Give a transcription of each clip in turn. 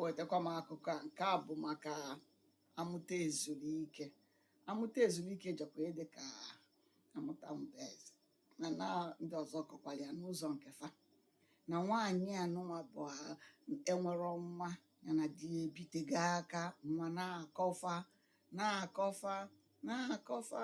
wetakwa m akụkọ a nke a bụ maka amụta ezuru ike amụta ezuru ike jọkwa ihe dị ka amụta mba eze na na ndị ọzọ kọkwara ya n'ụzọ nke fa na nwaanyị anụnwa bụ a- enwerọ nwa ya na di ya ebitego aka nwa na-akọ fa na-akọ fa na-akọ fa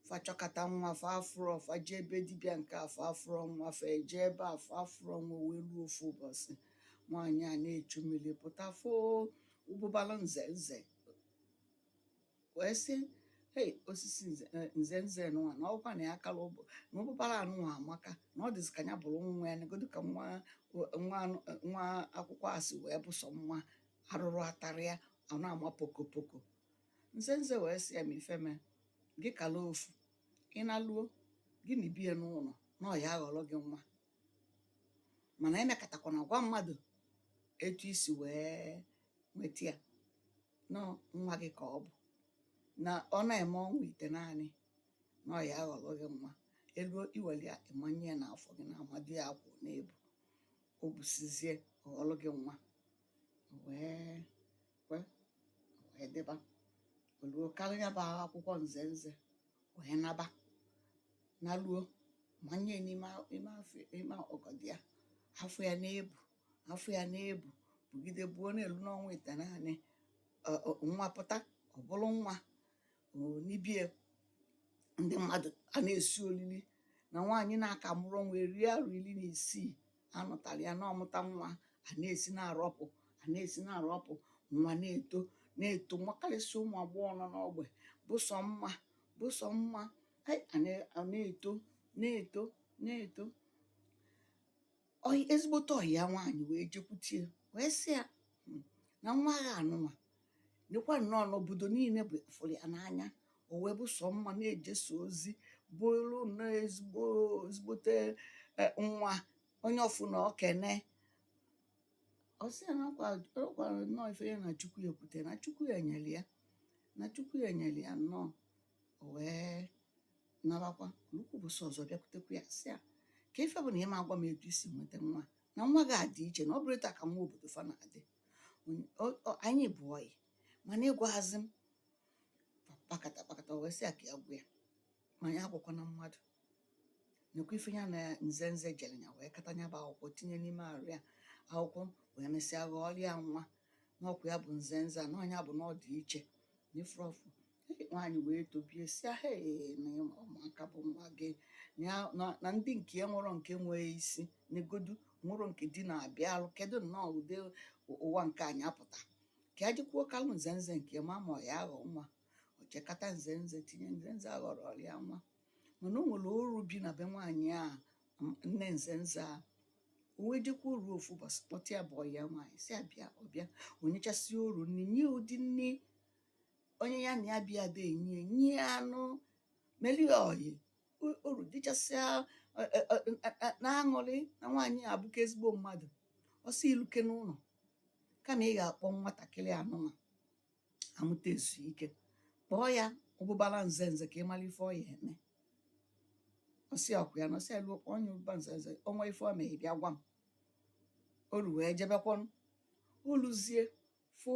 fa chọkata nwa fa afụrọ fa jee be dibịa nke a fa afụrọ nwa fa eje ebe a fa afụrọ nwa wee luo ofu ụbọsị nwaanyị a na-echu mmiri pụta fụ ụbụbala nze nze wee sị hei osisi nze eh, nze nze nụwa na ọ kwa na ya kala ụbụ na ụbụbala anụnwa amaka na ọ dịzị ka ya bụrụ nwa ya negodu ka nwa nwa anụ- nwa akwụkwọ a si wee bụ sọ mma arụrụ atarọ ya ọ na-ama pokopoko nzenze wee sị ya ma ife mee gị kala ofu ị naluo gị nibie n'ụnọ na ọ ya-aghọrọ gị nwa mana emekatakwana gwa mmadụ etu i si wee nweta ya na nwa gị ka ọ bụ na ọ na-eme ọnwa itenaanị na ọ ya-aghọrọ gị nwa e luo i were ya ị manye ya n'afọ gị na amadu ya akwụ na-ebu o busizie ọ ghọrọ gị nwa wee wee wee dịba o luo kalị nya bụ akwụkwọ nze nze wee naba naluo manye n'ime a- ime afọ ime ọgọdọ ya afọ ya na-ebu afọ ya na-ebu bugide buo na-elu n'ọnwa itenaanị ọ- ọ- nwa pụta ọ bụrụ nwa o, n'ibie ndị mmadụ a na-esi olili na nwaanyị na-aka amụrọ nwa eri arọ iri na isii a nụtara ya na ọ mụta nwa a na-esi na-arọpụ a na-esi na-arọpụ nwa na-eto na-eto makarịsị ụmụ agbọghọ nọ n'ogbe bụ sọ mma bụ sọ mma ai, a na- a na-eto na-eto na-eto Ọyị- ezigbote ọyị ya nwaanyị wee jekwutie wee sị ya "Hmm, na nwa gị anụnwa nekwa nnọọ na obodo niine bụ fụrụ ya n'anya o wee bụ sọ mma na-ejesi ozi bụrụ na ezigbo ezigbote e, nwa onye ọ fụna o kene ọ sị ya na ọ kwa- ọ gwara nnọọ ife ya na chukwu ya ekwute na chukwu ya nyere ya na chukwu ya nyere ya nnọọ o wee nabakwa o lukwa ụbọsị ọzọ bịakwutekwa ya sị ya kee ife bụ na ị ma agwa m etu i si nweta nwa na nwa gị adị iche na ọ bụrọ etu a ka nwa obodo fa na-adị anyị bụ ọyị mana ị gwaghazị m kpakata kpakata wee sị ya ka ya gwa ya ma ya agwakwana mmadụ nekwa ife ya na nze nze jere ya wee kata ya bụ akwụkwọ tinye n'ime arụ ya akwụkwọ wee mesịa ghọọrọ ya nwa na ọ kwa ya bụ nze nze a na ọ nya bụ na ọ dị iche na ife ọ fụ nwaanyị wee tobie sị ya he na ụmụaka bụ nwa gị na ndị nke ya nwerọ nke nwee isi negodu nwerọ nke di na-abịa alụ kedu nnọọ ụdị ụwa nke anyị apụta ka ya jikwuo kalụ nze nze nke ma ma ọ ya aghọ nwa o chekata nze nze tinye nze nze aghọrọ ya nwa mana o nwere oru bi na be nwaanyị a nne nze nze a o wee jekwa oru ofu ụbọchị kpọta ya bụ ọyị ya nwaanyị sị ya bịa ọ bịa o nyechasịa oru nri nye ụdị nri onye ya na ya bi adị enye ya nye anụ meli oyi oru richasịa na-aṅụrị na nwaanyị a bụka ezigbo mmadụ ọ sị i lukwe n'ụlọ kama ị ga-akpọ nwatakịrị anụnwa amụta ezuru ike kpọọ ya ụbụbara nze nze ka ị mara ife ọ ya eme ọ sị ọ kwa ya na ọ sị i luo kpọọ nya ụbụbara nze nze ọ nwee ife o mee ị bịa gwa m oru wee jebekwanụ o luzie fụ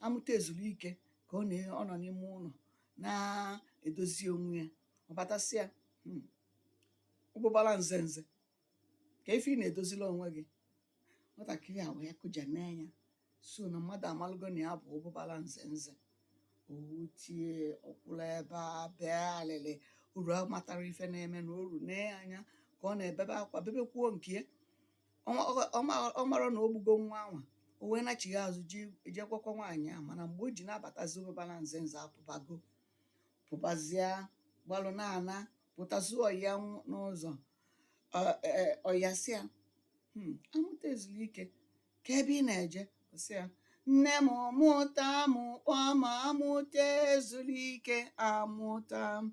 amụta ezuru ike ka ọ na-ọ nọ n'ime ụlọ na-edozi onwe ya ọ bata sị ya hmm, ụbụbara nze nze ka ife ị na-edozila onwe gị nwatakịrị a wee kụja nee anya sị na mmadụ amalụgo na ya bụ ụbụbara nze nze o tie ọ kwụrụ ebe a bee alịlị oru amatarọ ife na-emenụ oru nee anya ka ọ na-ebebe akwa bebekwuo nke ya ọ mara na o gbugo nwa anwa o wee nachigha azụ jee gwakwa nwaanyị ahụ mana mgbe o ji na-abatazi ụbụbara nze nze apụbago pụbazia gbalụ na-ana pụtazi ọyị ya nw- n'ụzọ Ọ- e- e- ọyị ya sị ya "Hmm, amụta ezuru ike ka ebe ị na-eje Ọ sị ya nne m mụta m kpọọ m amụta ezuru ike amụta m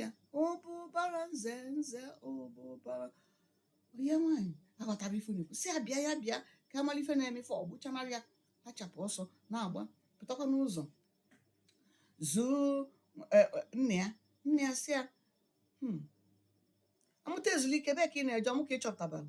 ya ụbụbara nze nze ụbụbara ọyị ya nwaanyị aghọtarọ ife na-ekwu sị ya bịa ya bịa ka a mara ife na-eme ife ọ gbụchanarị ya achapụ ọsọ na-agba pụtakwa n'ụzọ zuo e, e, nne ya nne ya sị ya "Hmm, amụta ezulike ebe ka ị na-eje ọ mụ ka ị chọ pụtabara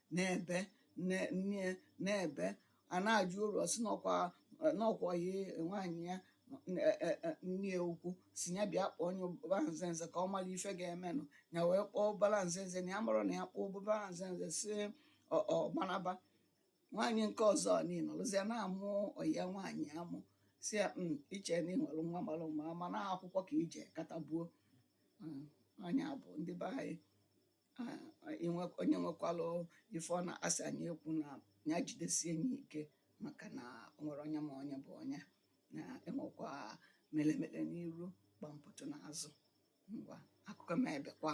na-ebe ne- nne na-ebe a na-ajụ oru ọ sị na ọ kwa na ọ kwa ya nwaanyị ya e- e- e- nne ya ukwu sị ya bịa kpọọ nya ụbụbara nze nze ka ọ mara ife ga-emenụ ya wee kpọọ ụbụbara nze nze na ya amarọ na ya kpọọ ụbụbara nze nze si ọ ọ gbanaba nwaanyị nke ọzọ niile nọlụzie na-amụ ọyị ya nwaanyị amụ sị ya "Mm, i che na ị nwere nwa mara mma mana akwụkwọ ka i je kata buo Mm, nya bụ ndị be anyị Ah, inwe- onye nwekwalụ ife ọ na-asị anyị ekwu na ya jidesie ya ike maka na o nwerọ onye ma onye bụ onye na e nwekwa melemele n'iru gbampụtụ n'azụ ngwa akụkọ m ebekwa